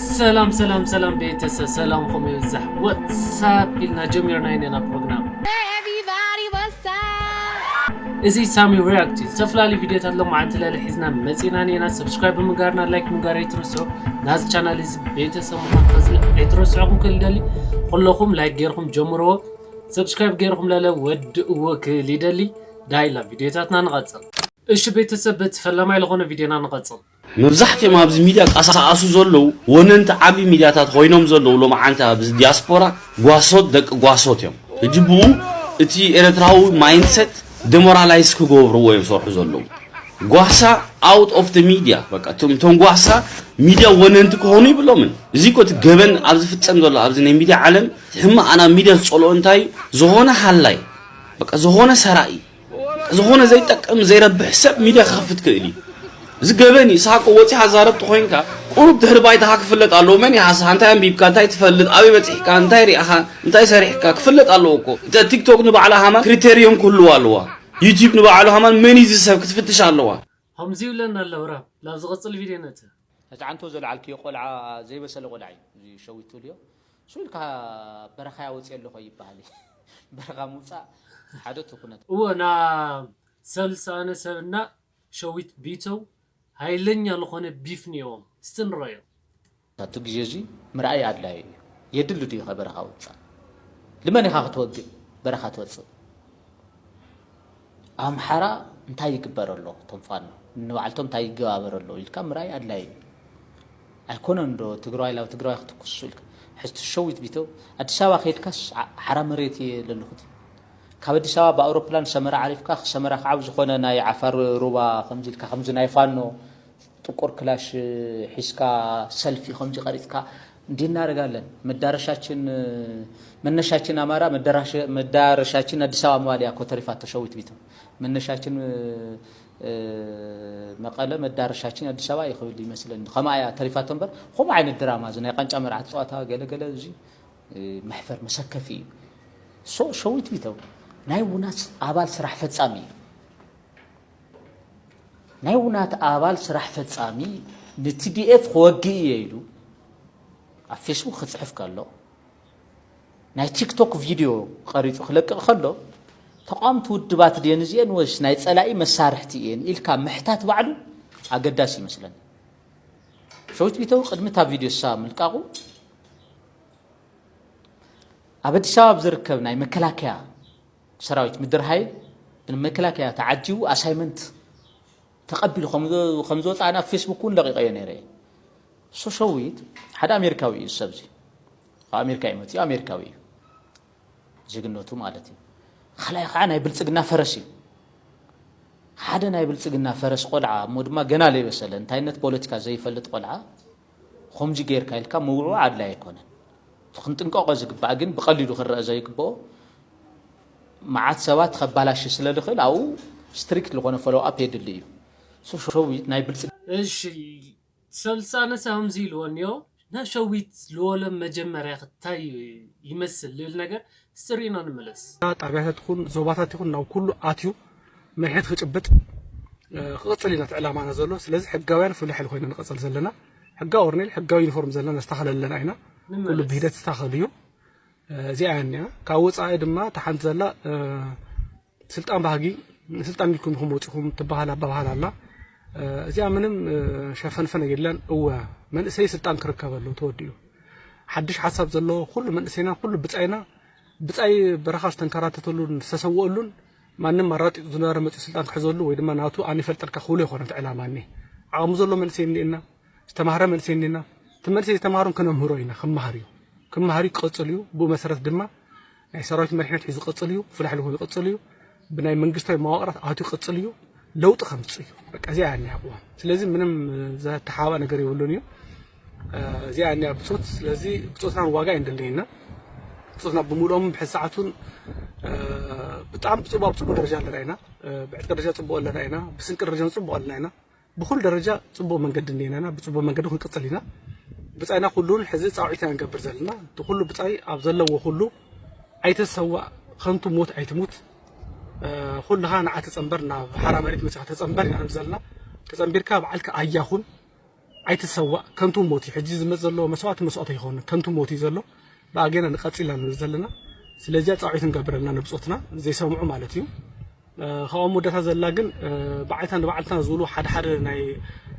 ሰላም ሰላም ሰላም ቤተሰብ ሰላምኹም ይብዛሕ ወትሳፕ ኢልና ጀሚርና ኢና ፕሮግራም እዚ ሳሚ ሪያክት እዩ ዝተፈላለዩ ቪድዮታት ሎማዓንቲ ለለ ሒዝና መፂና ኔና ሰብስክራይብ ብምጋርና ላይክ ምጋር ኣይትርስዑ ናዚ ቻናል እዚ ቤተሰብ ምዃን ከዝለ ኣይትረስዑኹም ክል ደሊ ኩለኹም ላይክ ገይርኩም ጀምርዎ ሰብስክራይብ ገይርኩም ለለ ወድእዎ ክል ይደሊ ዳይላ ቪድዮታትና ንቐፅል እሺ ቤተሰብ በቲ ፈላማይ ዝኾነ ቪድዮና ንቐፅል መብዛሕቲኦም ኣብዚ ሚድያ ቃሳኣሱ ዘለዉ ወነንቲ ዓቢ ሚድያታት ኾይኖም ዘለዉ ሎምዓንቲ ኣብዚ ዲያስፖራ ጓሶት ደቂ ጓሶት እዮም ህጂ ብኡ እቲ ኤረትራዊ ማይንድሰት ደሞራላይዝ ክገብርዎ እዮም ዝሰርሑ ዘለዉ ጓሳ ኣውት ኦፍ ደ ሚድያ በቃ እቶም እቶም ጓሳ ሚድያ ወነንቲ ክኾኑ ይብሎምን እዚ እኮ እቲ ገበን ኣብ ዝፍጸም ዘሎ ኣብዚ ናይ ሚድያ ዓለም እቲ ሕማቕ ናብ ሚድያ ዝጸልኦ እንታይ እዩ ዝኾነ ሃላይ በቃ ዝኾነ ሰራቂ ዝኾነ ዘይጠቅም ዘይረብሕ ሰብ ሚድያ ክኸፍት ክእል እዩ እዚ ገበን እዩ ሳቆ ወፂኻ ዛረብቲ ኮይንካ ቁሩብ ድሕሪ ባይታኻ ክፍለጥ ኣለዎ መን ይሃስኻ እንታይ ኣንቢብካ እንታይ ትፈልጥ ኣበይ በፂሕካ እንታይ ሪእኻ እንታይ ሰሪሕካ ክፍለጥ ኣለዎ እኮ ቲክቶክ ንባዕላ ሃማን ክሪቴርዮም ክህልዋ ኣለዋ ዩቲብ ንባዕሉ ሃማን መን እዩ እዚ ሰብ ክትፍትሽ ኣለዋ ሆምዚ ይብለኒ ኣሎ ብራም ላብ ዝቅጽል ቪድዮ ነእትያ። ነቲ ዓንተቦ ዘልዓልክዮ ቆልዓ ዘይበሰለ ቆልዓ እዩ እዚ ሸዊት ትብልዮ ስቅ ኢልካ በረኻያ ወጽየ ኣለኹ ኣይብሃልን በረኻ ምውጻእ ሓደ እቲ ኩነት። እወ ናብ ሰብ ልሳኣነ ሰብ እና ሸዊት ቢተው ሃይለኛ ልኾነ ቢፍ ኔዎም እስቲ ንረዮ። ኣብቲ ግዜ እዚ ምርኣይ ኣድላዩ እዩ። የድሊ ድዩኸ በረኻ ውጻእ? ልመን ኢኻ ክትወግእ በረኻ ትወጽእ? ኣብ ኣምሓራ እንታይ ይግበር ኣሎ? እቶም ፋኖ ንባዕልቶም እንታይ ይገባበር ኣሎ ኢልካ ምርኣይ ኣድላዩ እዩ። ኣይኮነን ዶ ትግራዋይ ላብ ትግራዋይ ክትኩሱ ኢልካ ሕዝቲ ሸዊት ቢተው ኣዲስ ኣበባ ከይድካስ ዓ- ሓራ መሬት እየ ለለኹ ትብል ካብ ኣዲስ ኣበባ ብኣውሮፕላን ሰመራ ዓሪፍካ ሰመራ ከዓ ኣብ ዝኾነ ናይ ዓፋር ሩባ ከምዚ ኢልካ ከምዚ ናይ ፋኖ ጥቁር ክላሽ ሒዝካ ሰልፊ ከምዚ ቀሪጽካ እንዲህ እናደርጋለን መዳረሻችን መነሻችን ኣማራ መዳረሻችን ኣዲስ ኣበባ ምባል እያ እኮ ተሪፋቶ ሸዊት ቢትም መነሻችን መቀለ መዳረሻችን ኣዲስ ኣበባ እዩ ክብል ይመስለኒ ከምኣ እያ ተሪፋቶ እምበር ከምኡ ዓይነት ድራማ እዚ ናይ ቃንጫ መርዓት ጸዋታ ገለገለ እዚ መሕፈር መሰከፊ እዩ ሶ ሸዊት ቢተው ናይ ውናት ኣባል ስራሕ ፈጻሚ እዩ ናይ ውናት ኣባል ስራሕ ፈጻሚ ንቲዲኤፍ ክወግእ እየ ኢሉ ኣብ ፌስቡክ ክፅሕፍ ከሎ ናይ ቲክቶክ ቪድዮ ቐሪፁ ክለቅቕ ከሎ ተቃዋምቲ ውድባት ድየን እዚኤን ወይስ ናይ ፀላኢ መሳርሕቲ እየን ኢልካ ምሕታት ባዕሉ ኣገዳሲ ይመስለኒ። ሸዊት ቢተው ቅድሚ እታ ቪድዮ እሳ ምልቃቑ ኣብ ኣዲስ ኣበባ ብዝርከብ ናይ መከላከያ ሰራዊት ምድር ሃይል ብመከላከያ ተዓጂቡ ኣሳይመንት ተቐቢሉ ከምዝወፅኣ ናብ ፌስቡክ እውን ለቂቐዮ ነይረ እየ ሶሸዊት ሓደ ኣሜሪካዊ እዩ ሰብ እዚ ካብ ኣሜሪካ እዩ መፅኡ ኣሜሪካዊ እዩ ዜግነቱ ማለት እዩ ካልኣይ ከዓ ናይ ብልፅግና ፈረስ እዩ ሓደ ናይ ብልፅግና ፈረስ ቆልዓ እሞ ድማ ገና ዘይበሰለ እንታይነት ፖለቲካ ዘይፈልጥ ቆልዓ ኹምዚ ገይርካ ኢልካ ምውዕዋዕ ኣድላይ ኣይኮነን። እቲ ክንጥንቀቆ ዝግባእ ግን ብቀሊሉ ክረኣ ዘይግበኦ መዓት ሰባት ከባላሽ ስለ ዝኽእል ኣብኡ ስትሪክት ዝኾነ ፎሎው ኣፕ የድሊ እዩ። ሶ ሸዊት ናይ ብልጽግና። እሺ ሰልጣነ ከምዚ ኢልዎ እንዮ ሸዊት ልወሎም መጀመርያ ክታይ ይመስል ልብል ነገር ስር ኢና ንመለስ። ጣብያታት ይኹን ዞባታት ይኹን ናብ ኩሉ ኣትዩ መሪሕነት ክጭብጥ ክቕፅል ኢና እቲ ዕላማና ዘሎ ስለዚ ሕጋውያን ፍሉይ ሓይሊ ኮይና ንቐፅል ዘለና ሕጋዊ ወርኔል ሕጋዊ ዩኒፎርም ዘለና ነስተኻኸል ኣለና ኢና ኩሉ ብሂደት ዝስተኻኸል እዩ እዚኣ እያ እኒኣ ካብ ወፃኢ ድማ ተሓንቲ ዘላ ስልጣን ባህጊ ንስልጣን ኢልኩም ኢኹም ወጺኹም ትበሃል ኣበሃህላ ኣላ። እዚኣ ምንም ሸፈንፈን የለን። እወ መንእሰይ ስልጣን ክርከብ ኣለዎ ተወዲኡ። ሓድሽ ሓሳብ ዘለዎ ኩሉ መንእሰይና ኩሉ ብጻይና ብጻይ በረኻ ዝተንከራተተሉን ዝተሰወኣሉን ማንም ኣራጢጡ ዝነበረ መጺኡ ስልጣን ክሕዘሉ ወይ ድማ ናቱ ኣነ ይፈልጠልካ ክብሎ ይኮነ እቲ ዕላማ እኒ ዓቕሙ ዘሎ መንእሰይ እኒኤና ዝተማህረ መንእሰይ እኒኤና እቲ መንእሰይ ዝተማህሮን ክነምህሮ ኢና ክመሃር እዩ ክመሃር እዩ ክቐጽል እዩ ብኡ መሰረት ድማ ናይ ሰራዊት መሪሕነት ሒዙ ክቕፅል እዩ፣ ፍላሕ ልኹ ይቕፅል እዩ፣ ብናይ መንግስታዊ መዋቕራት ኣትዩ ክቕፅል እዩ፣ ለውጢ ከምፅእ እዩ። በቃ እዚኣ እያ እኒኣ ቅዋም። ስለዚ ምንም ዘተሓባእ ነገር የብሉን እዩ። እዚኣ እያ እኒኣ ብፆት። ስለዚ ብፆትና ዋጋ እዩ እንደለየና ብፆትና ብምልኦም ብሕዚ ሰዓቱን ብጣዕሚ ብፅቡቅ ኣብ ፅቡቅ ደረጃ ኣለና ኢና ብዕጥቂ ደረጃ ፅቡቅ ኣለና ኢና ብስንቂ ደረጃ ፅቡቅ ኣለና ኢና ብኹሉ ደረጃ ጽቡቕ መንገዲ እኒኤናና ብጽቡቕ መንገዲ ክንቅጽል ኢና ብጻይና ኩሉን ሕዚ ጻውዒት ኢና ንገብር ዘለና እቲ ኩሉ ብጻይ ኣብ ዘለዎ ኩሉ ኣይተሰዋእ ከንቱ ሞት ኣይትሙት ኩልኻ ንዓ ተጸንበር ናብ ሓራ መሬት መጽኻ ተጸንበር ኢና ንብል ዘለና ተጸንቢርካ በዓልካ ኣያ ኩን ኣይትሰዋእ ከንቱ ሞት እዩ ሕጂ ዝመጽ ዘሎ መስዋእቲ መስዋእቲ ኣይኮነ ከንቱ ሞት እዩ ዘሎ ብኣጌና ንቐጽል ኢና ንብል ዘለና ስለዚያ ጻውዒት ንገብረልና ንብጾትና ዘይሰምዑ ማለት እዩ ካብኡ ኣብ መወዳእታ ዘላ ግን ብዓይታ ንባዕልትና ዝብሉ ሓደ ሓደ ናይ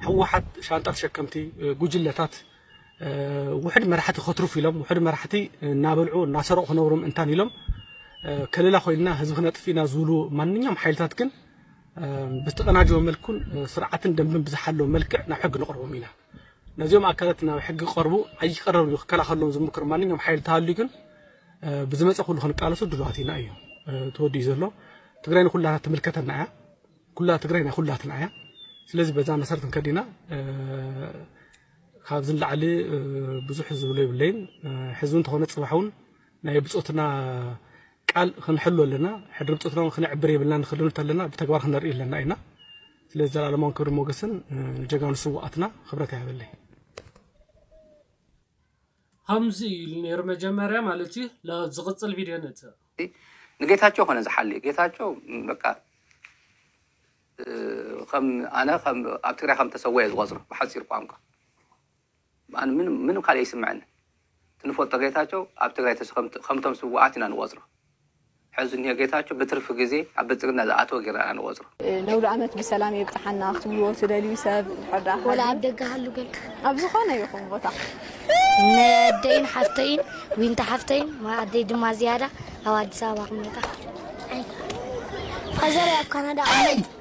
ህወሓት ሻንጣ ተሸከምቲ ጉጅለታት ውሕድ መራሕቲ ከትርፉ ኢሎም ውሕድ መራሕቲ እናበልዑ እናሰረቑ ክነብሩ ምእንታን ኢሎም ከለላ ኮይንና ህዝቢ ክነጥፍ ኢና ዝብሉ ማንኛውም ሓይልታት ግን ብዝተቀናጀወ መልኩን ስርዓትን ደንብን ብዝሓለወ መልክዕ ናብ ሕጊ ንቕርቦም ኢና ነዚኦም ኣካላት ናብ ሕጊ ቀርቡ ኣይቀረብ ክከላኸሎም ዝምክር ማንኛውም ሓይል ተሃልዩ ግን ብዝመፀ ኩሉ ክንቃለሶ ድሉዋት ኢና እዩ ተወዲኡ ዘሎ ትግራይ ንኩላትና ትምልከተና እያ ኩላ ትግራይ ናይ ኩላትና እያ ስለዚ በዛ መሰረት ክንከድ ኢና ካብዚ ንላዕሊ ብዙሕ ዝብሎ የብለይን ሕዚ እውን ተኾነ ፅባሕ እውን ናይ ብፆትና ቃል ክንሕሉ ኣለና ሕድሪ ብፆትና እውን ክነዕብር የብልና ንክልኑ ተለና ብተግባር ክነርኢ ኣለና ኢና ስለዚ ዘላለማውን ክብሪ ሞገስን ንጀጋኑ ስዋኣትና ክብረት ያበለይ ኸምዚ ኢሉ ነይሩ መጀመርያ ማለት እዩ ን ዝቅፅል ቪድዮ ነእትው። ንጌታቸው ኮነ ዝሓሊ ጌታቸው በቃ ኣነ ኣብ ትግራይ ከም ተሰወየ ዝቆፅሮ ብሓፂር ቋንቋ ኣነ ምንም ካልእ ኣይስምዐንን እቲ ንፈልጦ ጌታቸው ኣብ ትግራይ ከምቶም ስውኣት ኢና ንቆፅሮ ሕዚ እኒሆ ጌታቸው ብትርፊ ግዜ ኣብ ብልፅግና ዝኣተወ ጌርና ኢና ንቖፅሮ። ነውሪ ኣመት ብሰላም የብጽሓና ክትብልዎ ትደልዩ ሰብ እንድሕር ደኣ ወላ ሃልዩ ኣብ ደገ ሃሉ በልካ ኣብ ዝኾነ ይኹን ቦታ ነደይን ሓፍተይን ዊንታ ሓፍተይን ማ ኣደይ ድማ ዝያዳ ኣብ ኣዲስ ኣበባ ክመጣ ኣይ ፋዘረይ ኣብ ካናዳ ቅመጥ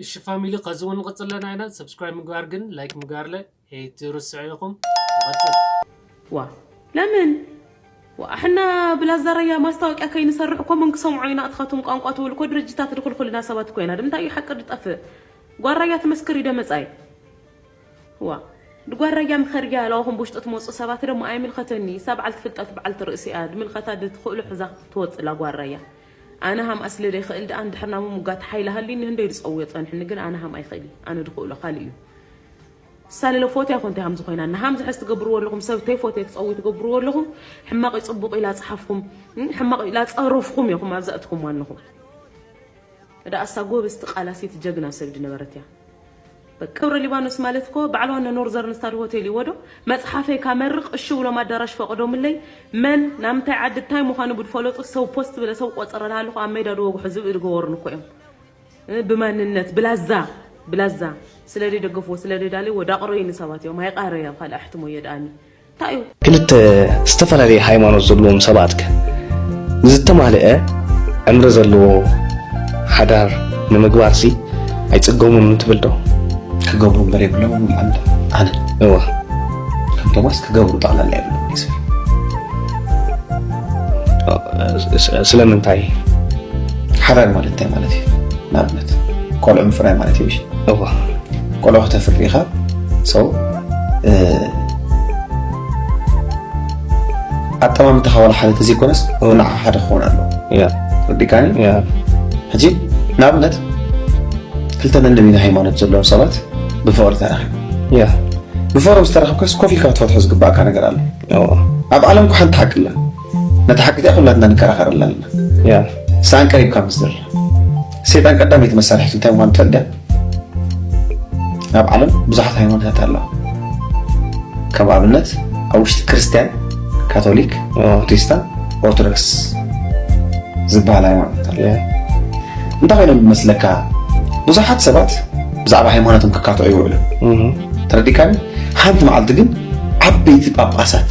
እሺ ፋሚሊ ከዚ ውን ንቅጽል ኣለና ኢና ሰብስክራይብ ምግባር ግን ላይክ ምግባርለ ኤይትርስዑ ኢኩም ንቅጽል። ዋእ ለምን ዋእ ሕና ብላዛ ራያ ማስታወቅያ ከይንሰርሕ እኮ መን ክሰምዖ ኢና ኣትኻቱም ቋንቋ ትብል እኮ ድርጅታት ድኹልኹልና ሰባት እኮ ኢና ድምንታይ እዩ ሓቂ ድጠፍእ ጓል ራያ ትመስክር እዩ ደመጻይ እዋ ድጓ ራያ ምኸር እያ ለዋኹም ብውሽጢ ትመጹ ሰባት ደሞ ኣይምልኸተኒ እሳ በዓልቲ ፍልጠት በዓልቲ ርእሲ እያ ድምልከታ ድትኽእሎ ሕዛ ክትወጽእ እላ ጓል ራያ ኣነ ሃምኣ ስለ ደይኽእል ድኣ ንድሕር ናብ ምሙጋት ሓይሊ ሃልዩኒ ህንደይ ድጸውዮ ጸንሑኒ ግን ኣነ ሃምኣ ይኽእል እየ ኣነ ድኽእሎ ካልእ እዩ እሳ ልለ ፎትያ ኮንተይ ሃምዚ ኮይና እና ሃምዚ ሕዚ ትገብርዎ ኣለኹም ሰብ ተይፎትየ ክጸውይ ትገብርዎ ኣለኹም ሕማቕ እዩ ጽቡቕ እዩ ላጽሓፍኩም ሕማቕ እዩ ላጸረፍኩም ኢኹም ኣብዛ እትኩምዋ ኣለኹም እዳ ኣሳ ጎበዝቲ ቃላሲት ጀግና ሰብ ድነበረት እያ በቃ ደብረ ሊባኖስ ማለት እኮ በዓል ዋና ኖርዘርን ስታር ሆቴል እዩዎ ዶ መፅሓፈይ ካመርቅ እሺ ብሎም ኣዳራሽ ፈቅዶምለይ መን ናብ ምንታይ ዓዲ ታይ ምኳኑ ብድፈለጡ ሰው ፖስት ብለ ሰው ቆፀረ ናሃለኩ ኣብ መይዳ ድወግሑ ዝብኢ ድገበሩኒ እኮ እዮም ብማንነት ብላዛ ብላዛ ስለደይ ደገፍዎ ስለደይ ዳልይዎ ዳቅረዩኒ ሰባት እዮም ኣይቃረይ ኣብ ካልእ ኣሕትሞ እየ ዳኣኒ እንታይ እዩ? ክልተ ዝተፈላለየ ሃይማኖት ዘለዎም ሰባትከ ንዝተማልአ ዕምሪ ዘለዎ ሓዳር ንምግባርሲ ኣይጽገሙን ትብል ዶ? ክገብሩ እምበር የብሎምን ይብል ኣነ እወ ከም ቶማስ ክገብሩ ጠቕላላ የብሎም እዩ ዝብል ስ- ስለምንታይ ሓዳር ማለት እንታይ ማለት እዩ ንኣብነት ቆልዑ ምፍራይ ማለት እዩ እሺ እወ ቆልዑ ከተፍሪ ኢኻ ሰው ኣጠማምታ ካባል ሓደ ተዘይኮነስ ንዓ ሓደ ክኾን ኣለዎ ረዲካኒ ሕጂ ንኣብነት ክልተ ነንሚን ሃይማኖት ዘለዎም ሰባት ብፍቕሪ ተራኺቡ ብፍቕሮም ዝተረኸብካስ ኮፍ ኢልካ ክትፈትሖ ዝግባእካ ነገር ኣሎ ኣብ ዓለም ኳ ሓንቲ ሓቂ ኣላ ነታ ሓቂ እዚኣ ኩላትና ንከራኸረላ ኣለና ሰኣን ቀሪብካ ምስ ዝርራ ሴጣን ቀዳመይቲ መሳርሒቱ እንታይ ምኳኑ ትፈልጥ ኣብ ዓለም ብዙሓት ሃይማኖታት ኣለዋ ከም ኣብነት ኣብ ውሽጢ ክርስትያን ካቶሊክ ፕሮቴስታን ኦርቶዶክስ ዝበሃል ሃይማኖት ኣሎ እንታይ ኮይኖም ዝመስለካ ብዙሓት ሰባት ብዛዕባ ሃይማኖቶም ክካትዑ ይውዕሉ ተረዲካኒ ሓንቲ መዓልቲ ግን ዓበይቲ ጳጳሳት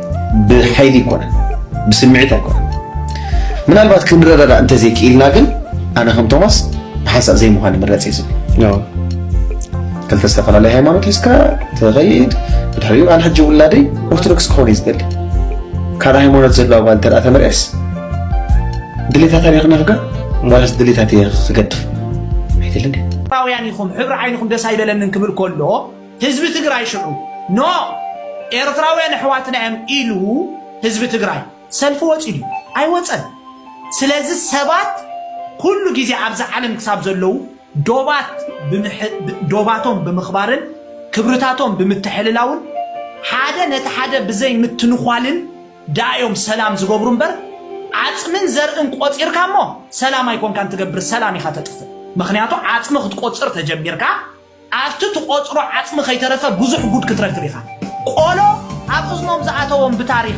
ብሓይሊ ኣይኮነን ብስምዒት ኣይኮነን ምናልባት ክንረዳዳ እንተዘይክኢልና ግን ኣነ ከም ቶማስ ብሓንሳእ ዘይምዃን ይምረፅ እዩ ዝብል ክልተ ዝተፈላለየ ሃይማኖት ሒዝካ ትኸይድ ብድሕሪኡ ኣነ ሕጂ ውላደይ ኦርቶዶክስ ክኾን እዩ ዝደሊ ካልእ ሃይማኖት ዘለዋ ጓል እንተ ተመርዕስ ድሌታታ እየ ክነፍጋ ዋላስ ድሌታት እየ ክገድፍ ኣይደልን እዩ ኢትዮጵያውያን ኢኹም ሕብሪ ዓይንኹም ደስ ኣይበለንን ክብል ከሎ ህዝቢ ትግራይ ሽዑ ን ኤርትራውያን ኣሕዋትና እዮም ኢሉ ህዝቢ ትግራይ ሰልፊ ወፂኡ ድዩ? ኣይወፀን። ስለዚ ሰባት ኩሉ ግዜ ኣብዛ ዓለም ክሳብ ዘለዉ ዶባት ዶባቶም ብምኽባርን ክብርታቶም ብምትሕልላውን ሓደ ነቲ ሓደ ብዘይምትንዃልን ድኣ እዮም ሰላም ዝገብሩ እምበር ዓፅምን ዘርእን ቆፂርካ እሞ ሰላም ኣይኮንካን ትገብር ሰላም ኢኻ ተጥፍእ ምኽንያቱ ዓፅሚ ክትቆፅር ተጀሚርካ ኣብቲ ትቆጽሮ ዓጽሚ ከይተረፈ ብዙሕ ጉድ ክትረክብ ኢኻ ቆሎ ኣብ እዝኖም ዝኣተዎም ብታሪኽ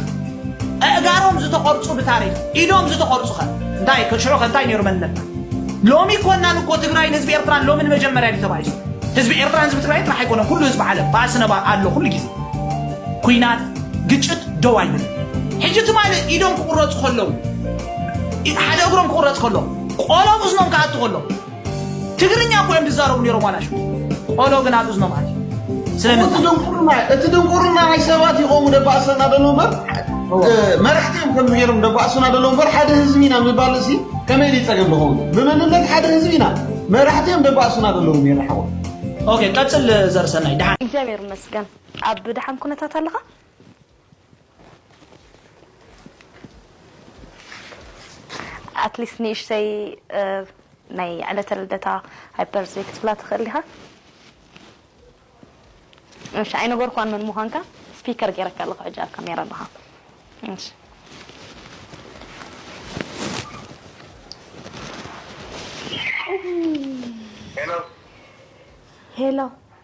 ኣእጋሮም ዝተቆርጹ ብታሪኽ ኢዶም ዝተቆርጹኸ እንታይ እከ ሽዑኸ እንታይ ኔሩ መንነትና ሎሚ ኮናን እኮ ትግራይን ህዝቢ ኤርትራን ሎሚ ንመጀመርያ ድዩ ተባኢሱ ህዝቢ ኤርትራን ህዝቢ ትግራይን ጥራሕ ኣይኮነን ኩሉ ህዝቢ ዓለም ባእሲ ነባ ኣሎ ኩሉ ግዜ ኩናት ግጭት ደው ኣይብልን ሕጂ ትማሊ ኢዶም ክቁረጹ ከለዉ ሓደ እግሮም ክቁረጽ ከሎ ቆሎም እዝኖም ክኣቱ ከሎ ትግርኛ እኮ እዮም ዝዛረቡ ነይሮም ዋላሽ ቆሎ ግን ኣብ እዝኖም ኣት ስለምንታይ ድንቁርና እቲ ድንቁርና ናይ ሰባት ይቆሙ ደባእሰና ደሎ እምበር መራሕቲ እዮም ከምዚ ገይሮም ደባእሱና ደሎ እምበር ሓደ ህዝቢ ኢና ምባል እዚ ከመይ ደ ፀገም ዝኸውን ብመንነት ሓደ ህዝቢ ኢና መራሕቲ እዮም ደባእሱና ደለዉ ነይረ ሓወ ኦኬ ቀፅል ዘርሰናይ ድሓን እግዚኣብሔር ይመስገን ኣብ ድሓን ኩነታት ኣለኻ ኣትሊስት ንእሽተይ ናይ ዕለተ ልደታ ሃይፐርዝይ ክትብላ ትኽእል ኢኻ እሺ ኣይነገርኳን መን ምዃንካ ስፒከር ገይረካ ኣለኹ ሕጂ ኣብ ካሜራ ኣለኻ እሺ ሄሎ ሄሎ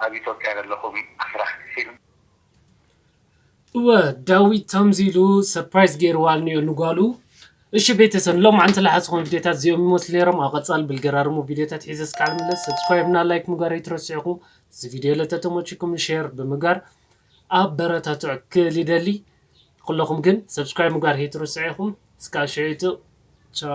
ኣብ ኢትዮጵያ ለለኹም ኣስራሕቲ ፊልም። እወ ዳዊት ተምዚ ኢሉ ሰፕራይዝ ገይርዋ እንዮ ንጓሉ። እሺ ቤተሰብ ንሎምዓንቲ ልሓዝኹም ቪድዮታት እዚኦም ይመስሉ ነይሮም ኣብ ቀፃሊ ብልገራርሙ ቪድዮታት ሒዘ እስካዕ ልምለስ ሰብስክራይብ እና ላይክ ምግባር ኣይትረስዑኹ እዚ ቪድዮ ለተተሞቺኩም ንሼር ብምግባር ኣበረታትዕ ክል ይደሊ ኹለኹም ግን subscribe ምግባር ህይትርስዑ ኢኹም እስካብ ሽዕቱ ቻው።